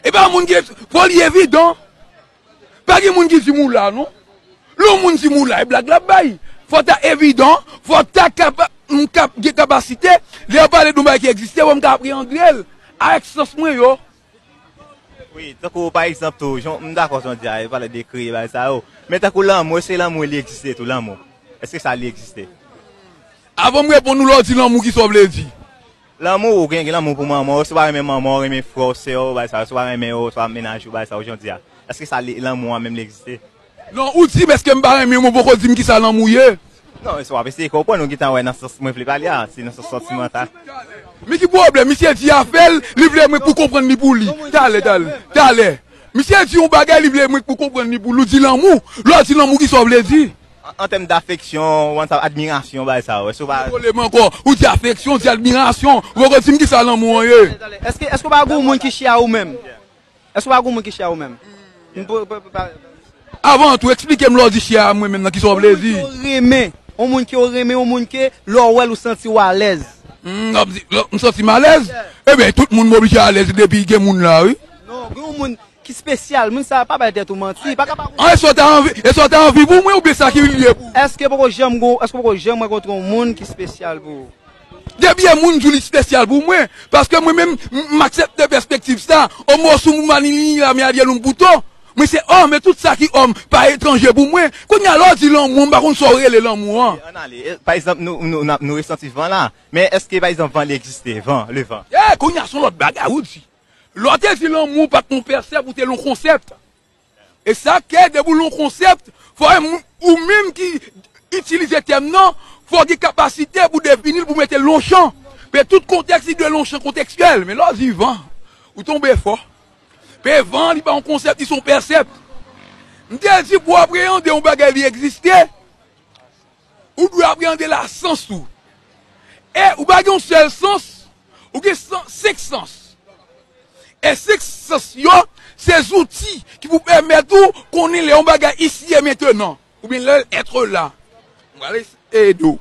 E pa moun ki fò li evidan. Pa gen moun ki di mou la non. Lè yon moun di mou la e blag lap bay. Fò ta evidan, fò ta kapa, m ka gen kapasite, lè yo pale doun bagay ki egziste pou m ka apreandre l ak sans mwen yo. Wi, tankou pa egzanp tou, jan m dakò jan w di a, yo pale de kreye bagay sa yo. Men tankou lanmou, èske lanmou li egziste tou lanmou? Èske sa li egziste? Avan m reponn ou lè w di lanmou kisa w vle di? Lanmou ou gen lanmou pou manman w, si w pa renmen manman w, renmen frè w, sè w, bagay sa yo, si w pa renmen yo, si w pa mennaj ou, bagay sa yo, jan w di a, èske sa li, lanmou an menm li egziste? Non, ou di m èske m pa renmen w men w poko di m kisa lanmou ye? Non, se w ap eseye konprann, ou gen tan wè nan sans mwen vle pale a, se nan sans santimantal. Men ki pwoblèm, misye di afè l, li vle mwen pou konprann li pou li. Talè, talè, talè. Misye di yon bagay li vle mwen pou konprann li pou li, ou di lanmou, lè w di lanmou kisa w vle di? An tèm dafeksyon, ou wè sa, admirasyon, bagay sa a, ou wè, si ou pa. Mete kole m ankò. Ou di afeksyon, ou di admirasyon. Ou poko di m ki sa lanmou an ye. Èske, èske ou pa gen yon moun ki chè a ou menm? Èske ou pa gen yon moun ki chè a ou menm? M pou, pou, pou pa. Avan tou, eksplike m lè ou di chè a mwen menm nan, ki sa ou vle di? Yon moun ke ou renmen. Yon moun ke ou renmen, yon moun ke lè ou wè l ou santi ou alèz. M ap di, m santi m alèz? Eben, tout moun m oblije alèz depi gen moun la wi. Non, gen yon moun, Ki spesyal? Moun sa pa bay tèt ou manti. Li paka pa konnen. An èske w ta anvi, èske w ta anvi pou mwen oubyen sa ki vin vye pou ou? Èske poko janm gen w, èske w poko janm rankontre yon moun ki spesyal pou ou? Depi yon moun di w li spesyal pou mwen, paske mwen menm m aksepte pèspektiv sa, o mo su mu mani ni la me adye lum buto, mwen se òm e tout sa ki òm pa etranje pou mwen. Kounye a lè w di lanmou an m pa konn sa w rele lanmou an. Ok, ann ale. Pa egzanp nou resanti van la, men èske pa egzanp van li egziste? Van, le vent. Eh! Kounye a s on lòt bagay ou di. Lè w te di lanmou pa t yon pèsèp ou te l yon konsèpt. E sa k fè depi w l yon konsèpt, fò ou menm ki itilize tèm nan, fò w gen kapasite pou defini l, pou w mete l yon chan. Pe tout kontèks li dwe l yon chan kontekstyèl. Men lè w di van, ou tonbe fò. Pe van li pa yon konsèpt, li se yon pèsèpt. M te di pou w apreyande yon bagay li egziste, Ou dwe apreande la sans ou. E ou pa gen yon sèl sans, ou gen senk sans. E senk sans yo se zouti ki pou pèmèt ou konnen lè yon bagay ici et maintenant oubyen lè l etre là. Mwen pral ede ou.